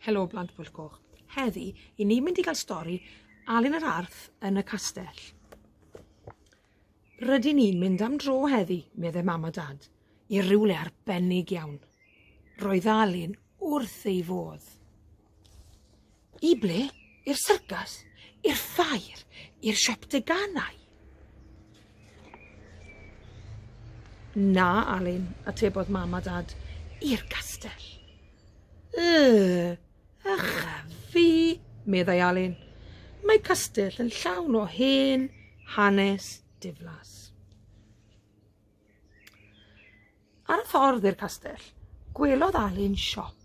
Helo blant Pwyll Coch. Heddi, i ni mynd i gael stori Alun yr Arth yn y castell. Rydyn ni'n mynd am dro heddi, meddai mam a dad, i rywle arbennig iawn. Roedd Alun wrth ei fodd. I ble? I'r syrcas? I'r ffair? I'r siop deganau? Na, Alun, atebodd mam a dad, i'r castell. Yy, ycha fi, meddai Alun. Mae castell yn llawn o hen hanes diflas. Ar y ffordd i'r castell, gwelodd Alun siop.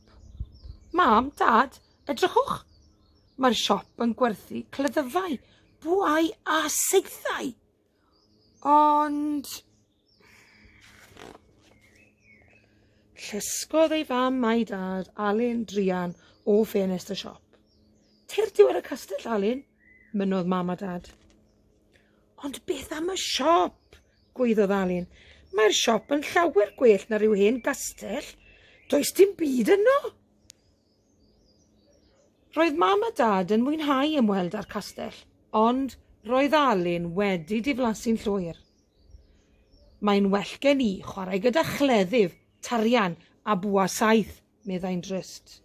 Mam, Dad, edrychwch! Mae'r siop yn gwerthu cleddyfau, bwau a seithau. Ond... Llysgodd ei fam a'i dad Alun Drian o ffenest y siop. Teir diwedd y castell, Alun, mynodd mam a dad. Ond beth am y siop? Gwaeddodd Alun. Mae'r siop yn llawer gwell na rhyw hen gastell. Does dim byd yno! Roedd mam a dad yn mwynhau ymweld â'r castell, ond roedd Alun wedi diflasu'n llwyr. Mae'n well gen i chwarae gyda chleddyf, tarian a bwa saeth, meddai'n drist.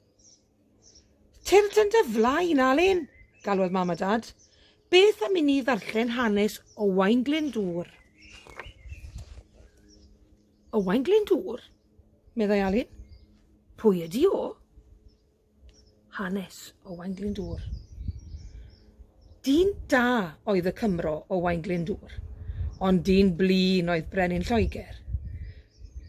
Tyrd yn dy flaen, Alun! galwodd Mam a Dad. Beth am i ni ddarllen hanes Owain Glyndŵr? Owain Glyndŵr? meddai Alun. Pwy ydi o? Hanes Owain Glyndŵr. Dyn da oedd y Cymro Owain Glyndŵr, ond dyn blin oedd Brenin Lloegr.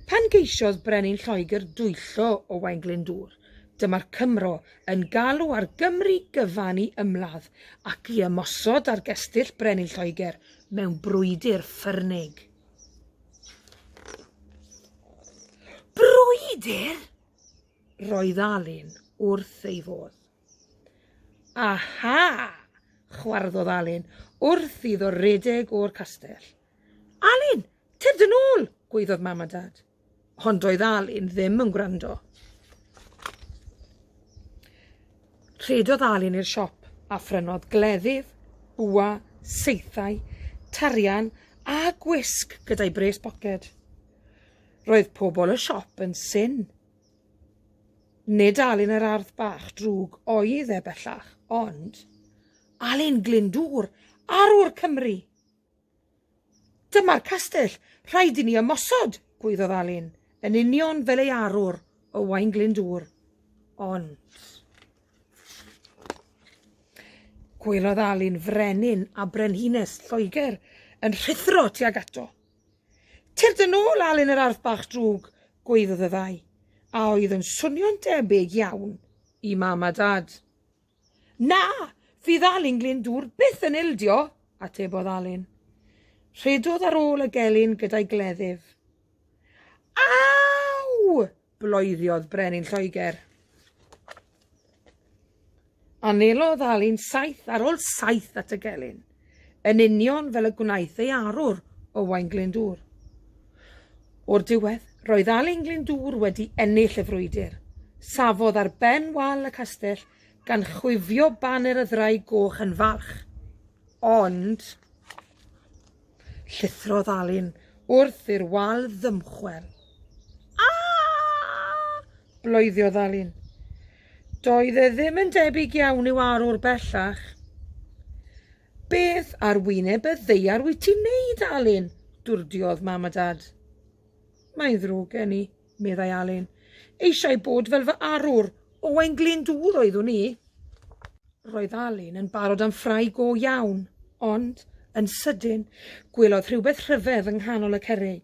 Pan geisiodd Brenin Lloegr dwyllo Owain Glyndŵr, Dyma'r Cymro yn galw ar Gymru gyfan i ymladd ac i ymosod ar gestyll brenin Lloegr mewn brwydr ffyrnig. Brwydr? Roedd Alun wrth ei fodd. Aha! chwarddodd Alun wrth iddo redeg o'r castell. Alun, tyrd yn ôl, gwaeddodd mam a dad. Hon doedd Alun ddim yn gwrando. Rhedodd Alun i'r siop a phrynodd gleddyf, bwa, seithau, tarian a gwisg gyda'i bres boced. Roedd pobl y siop yn syn. Nid Alun yr ardd bach drwg oedd e bellach, ond Alun Glyndŵr, arwr Cymru! Dyma'r castell, rhaid i ni ymosod, gwaeddodd Alun, yn union fel ei arwr, Owain Glyndŵr. Ond... Gwelodd Alun frenin a brenhines Lloegr yn rhuthro tuag ato. Tyrd yn ôl, Alun yr arth bach drwg, gwaeddodd y ddau, a oedd yn swnio'n debyg iawn i mam a dad. Na, fydd Alun Glyndŵr byth yn ildio, atebodd Alun. Rhedodd ar ôl y gelyn gyda'i gleddyf. Aw! bloeddiodd Brenin Lloegr. Anelodd Alun saith ar ôl saith at y gelyn. yn union fel y gwnaeth ei arwr, Owain Glyndŵr. O'r diwedd, roedd Alun Glyndŵr wedi ennill y frwydr. Safodd ar ben wal y castell gan chwifio baner y Ddraig Goch yn falch. Ond, llithrodd Alun wrth i'r wal ddymchwel. A! bloeddodd Alun. Doedd e ddim yn debyg iawn i'w arwr bellach. Beth ar wyneb y ddeiar wyt ti'n neud, Alun? dwrdiodd mam a dad. Mae'n ddrwg gen i, meddai Alun. Eisiau bod fel fy arwr, Owain Glyndŵr oeddwn i. Roedd Alun yn barod am ffrae go iawn, ond, yn sydyn, gwelodd rhywbeth rhyfedd yng nghanol y cerrig.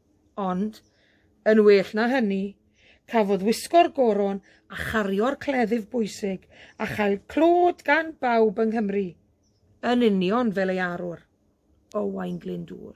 Ond, yn well na hynny, cafodd wisgo'r goron a chario'r cleddyf bwysig a chael clod gan bawb yng Nghymru, yn union fel ei arwr, Owain Glyndŵr.